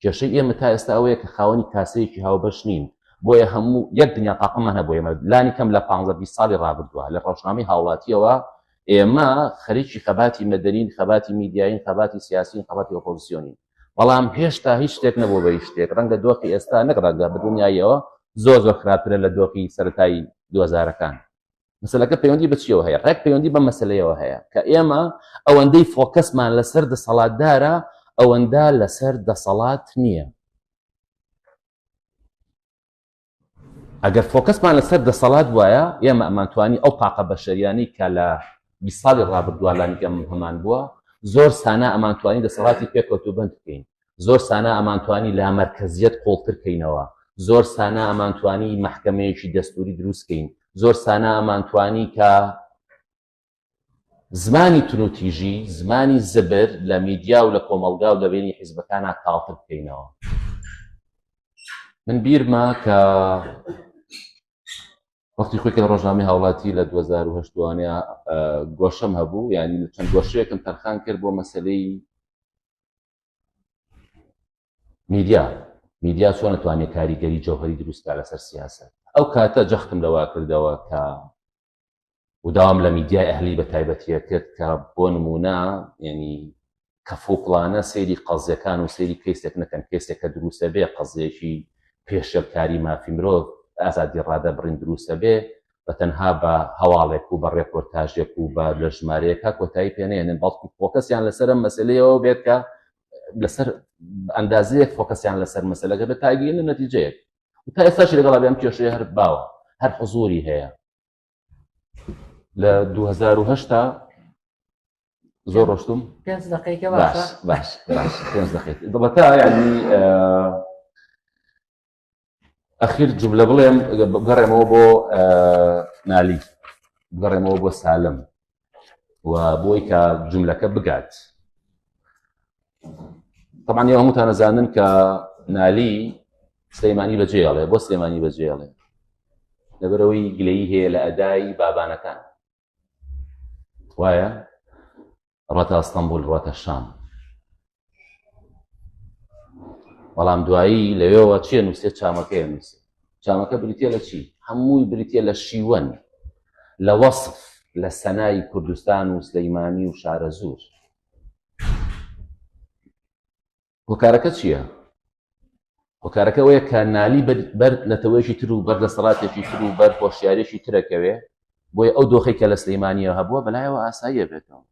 کێشەی ئێمە تا ئێستا ئەوەیە کە خاوەنی کاسەیەکی هاوبەش نین، بۆیە هەموو یەک دنیا تاقممان هەبوو، ئێمە لانی کەم لە پانزە بیست ساڵی ڕابردووە لە ڕەوشنامەی هاوڵاتییەوە ئێمە خەریکی خەباتی مەدەنین، خەباتی میدیایین، خەباتی سیاسیین، خەباتی ئۆپۆزسیۆنین، بەڵام هێشتا هیچ شتێک نەبووە بە هیچ شتێک، ڕەنگە دۆخی ئێستا نەک ڕەنگە بە دڵنیاییەوە زۆر زۆر خراپترە لە دۆخی سەرەتای دوو هەزارەکان. مەسلەکە پەیوەندی بەچیەوە هەیە ڕێک پەیوەندی بە مەسلەیەوە هەیە کە ئێمە ئەوەندەی فۆکەسمان لەسەر دەسەڵاتدارە ئەوەندە لەسەر دەسەڵات نییە ئەگەر فۆکەسمان لەسەر دەسەڵات وایە ئێمە ئەمانتوانی ئەو پاقە بەشەریانی کە لە ساڵی ڕابردووە لانیگەم هەمان بووە زۆر سانا ئەمانتوانی دەسەڵاتی پێکەوت و بند بکەین زۆر سانا ئەمانتوانی لامەرکەزیەت قوڵتر کەینەوە، زۆر سانا ئەمانتوانی مەحکەمەیەکی دەستوری دروست کەین، زۆر سانا ئەمانتوانی کە زمانی تونوتیژی، زمانی زبر لە میدیا و لە کۆمەڵگا و لە بینی حیزبەکانا تاڵتر بکەینەوە. من بیرمە کە وەختی خۆی کە لە ڕۆژنامەی هاوڵاتی لە 2010 وانە گۆشەم هەبوو یعنی چەند گۆشەیەکم تەرخان کرد بۆ مەسلەی میدیا میدیا چۆن نتوانێت کاریگەری جەوهری دروستکە لەسەر سیاسە ئەو کاتە جەختم لەوا کردەوە کە وداوام لە میدیای ئەهلی بە تایبەتیە کرد کە بۆ نمونە ینی کەفوقلانە سەیری قەزیەکان و سەیری کەیسێک نەکەن کەسێک کە دروستە بێ قەزیەکی پێشێلکاری مافی مرۆڤ ئازادی ڕادە بڕین دروستە بێ بە تەنها بە هەواڵێک و بە ڕێپۆرتاژێک و بە لە ژمارەیەکە کۆتایی پێنێنن بەڵکو فۆکەسیان لەسەر ئەم مەسلەیەوە بێت کە لەسەر ئەندازەیەک فۆکەسیان لەسەر مەسلەکە بە تاگیرن و نەتیجەیەک تا ئێستاش لەگەڵا بێم کێشەیە هەر باوە هەر حزوری هەیە لە 2010 زۆر ڕۆشتم پێنج دقیقە باش باش باش پێنج دقیقە دڵەتا یعنی ئەخیر جملە بڵێم بگەڕێمەوە بۆ نالی بگەڕێمەوە بۆ سالم و بۆی کە جملەکە بگات طبعا یە هەمووتان نەزانن کە نالی سلەیمانی بەجێڵێ بۆ سلێمانی بەجێڵێ لەبەرەوەی گلەی هەیە لە ئەدای بابانەکان وایە ڕەتا ئەستەمبول ڕەتە شام بەڵام دوایی لەوێەوە چیە نووسێت چامەکەی نووسێ چامەکە بریتە لە چی هەمووی بریتە لە شیوەن لە وەصف لە سەنای کوردستان و سلەیمانی و شارە زور هۆکارەکە چییە؟ هۆکارەکە ئەوەیە کە نالی بەر نەتەوەیەکی تر و بەر دەسەڵاتێکی تر و بەر هۆشیارێکی ترەکەوێ بۆی ئەو دۆخی کە لە سلەیمانیە هەبووە بەلایەوە ئاساییە بێتەوە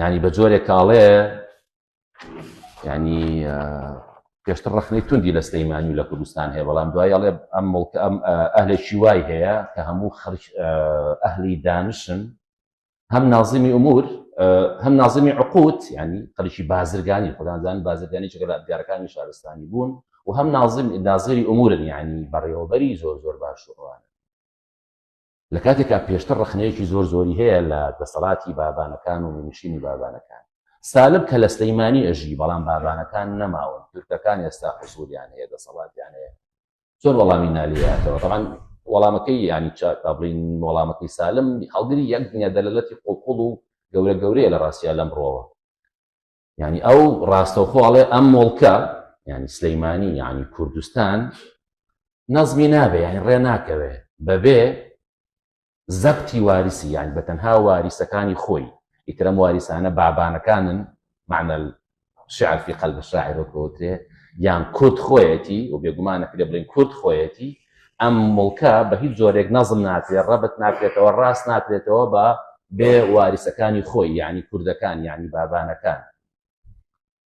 ینی بە جۆرێک کاڵێ ینی پێشتر ڕخنەی توندی لە سلەیمانی و لە کوردستان هەیە بەڵام دوای ئەڵێ ئەم مڵکە ئەم ئەهلێکی وای هەیە کە هەموو خەرج ئەهلی دانشن هەم نازمی ئومور هەم نازمی عقوت ینی قەرشی بازرگانی خۆدانزان بازرگانی چگە لە ئەدگارەکانی شارستانی بوون و هەم نازم نازری ئومورن ینی بەڕێوەبەری زۆر زۆر باش وڕوانە لە کاتێکا پێشتر ڕخنەیەکی زۆر زۆری هەیە لە دەسەڵاتی بابانەکان و نشینی بابانەکان سالب کە لە سلەیمانی ئەژی بەڵام بابانەکان نەماون تورکەکان ئێستا حزوریان هەیە دەسەڵاتیان هەیە چۆن وەڵامی نالیاتەوە تەبان وەڵامەکەی ینی چا بڵین وەڵامەکەی سالم هەڵگری یەک دنیا دەلەتی قوڵقڵ و گەورە گەورەیە لە ڕاستە لەم ڕۆوە ینی ئەو ڕاستەوخۆڵێ ئەم مڵکە ینی سلەیمانی ینی کوردستان نەزمی نابێ یانی ڕێ ناکەوێ بەبێ زەبتی واریسی یانی بە تەنها واریسەکانی خۆی ئیتر ئەم واریسانە بابانەکانن معنە الشعر فی قلب الشاعر وەک بەوترێ یان کورد خۆیەتی و بێگومان ئەکرێ بڵێین کورد خۆیەتی ئەم مڵکە بە هیچ جۆرێک نەزم ناکرێت ڕەبت ناکرێتەوە ڕاست ناکرێتەوە بە بێ واریسەکانی خۆی یعنی کوردەکان یعنی بابانەکان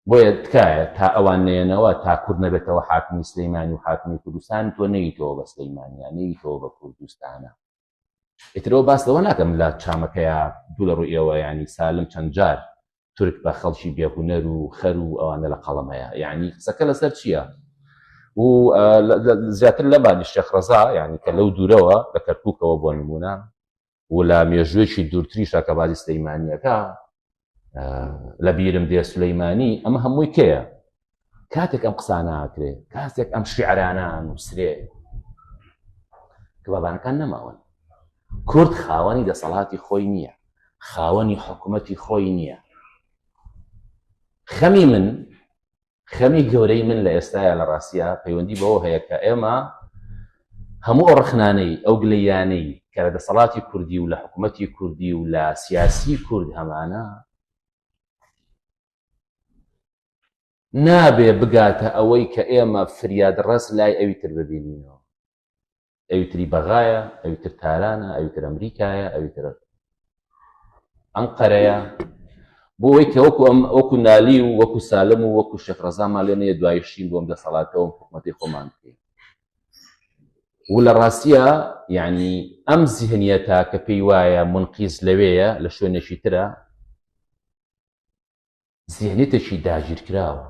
بۆیە تکایە تا ئەوان نەیەنەوە تا کورد نەبێتەوە حاکمی سلیمانی و حاکمی کوردستان تۆ نەیتەوە بە سلیمانیا نەیتەوە بە کوردستانە ئیترەوە باس لەوە ناکەم لە چامەکەیا دوو لە ڕووی ئێوە ینی سالم چەند جار تورک بە خەڵکی بێهونەر و خەر و ئەوانە لە قەڵم هەیە یعنی قسەکە لەسەر چییە و زیاتر لەمانی شێخ ڕزا ینی کە لەو دوورەوە لە کەرککەوە بۆ نمونە و لە مێژوێکی دوورتریشە کە بازی سلەیمانیەکە لە بیرم دێ سلەیمانی ئەمە هەمووی کەیە کاتێک ئەم قسانناکرێ کاتێک ئەم شعرانان و سرێ کە بابانەکان نەماون کورد خاوەنی دەسەڵاتی خۆی نییە خاوەنی حکوومەتی خۆی نییە خەمی من خەمی گەورەی من لە ئێستایا لە ڕاستیا پەیوەندی بەوە هەیە کە ئێمە هەموو ئەو ڕخنانەی ئەو گلەیانەی کە لە دەسەڵاتی کوردی و لە حکوومەتی کوردی و لە سیاسی کورد هەمانە نابێ بگاتە ئەوەی کە ئێمە فریاد ڕست لای ئەوی تر ببینینەوە ئەوی تری بەغایە ئەوی تر تارانە ئەوی تر ئەمریکایە ئەوی تر ئەم قەرەیە بۆ ئەوەی کە وەکو ئەم وەکو نالی و وەکو سالم و وەکو شێخ ڕزامان لێ نەیە دوایشین بۆم دەسەڵاتەوەم حکوومەتی خۆمان بکەین و لە ڕاستە یعنی ئەم زیهنیەتە کە پێی وایە منقیز لەوەیە لە شوێنێکی ترە زینتێکی داگیرکراوە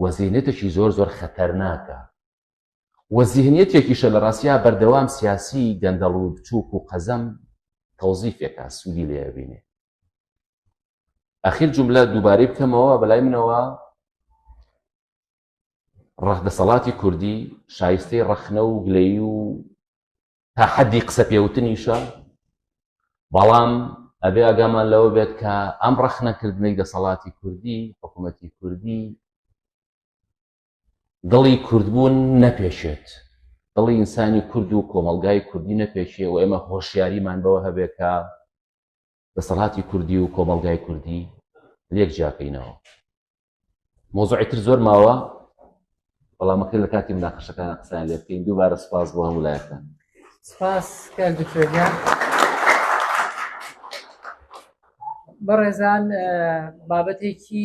و زینتێکی زۆر زۆر خەتەرناکە و زیهنیەتێکیشە لە ڕاستیا بەردەوام سیاسی گەندەڵ و بچووک و قەزەم تەوزیفێکە سوودی لێبینێ ئەخیر جملە دووبارەی بکەمەوە بەلای منەوە ڕەخ دەسەڵاتی کوردی شایستەی ڕەخنە و گلەی و تا حەدی قسە پێوتنیشە بەڵام ئەبێ ئاگامان لەوە بێت کە ئەم ڕەخنەکردنەی دەسەڵاتی کوردی حکوومەتی کوردی دڵی کوردبوون نەپێشێت دڵی ئینسانی کورد و کۆمەلگای کوردی نەپێشێ و ئێمە هۆشیاریمان بەوە هەبێت کە دەسەڵاتی کوردی و کۆمەڵگای کوردی لێک جیاکەینەوە مۆزوعی تر زۆر ماوە بەڵامەکە لە کاتی مناقەشەکان قسان لێ بکەین دووبارە سپاس بۆ هەموو لایەکان سپاس کار دکتۆرگە بەڕێزان بابەتێکی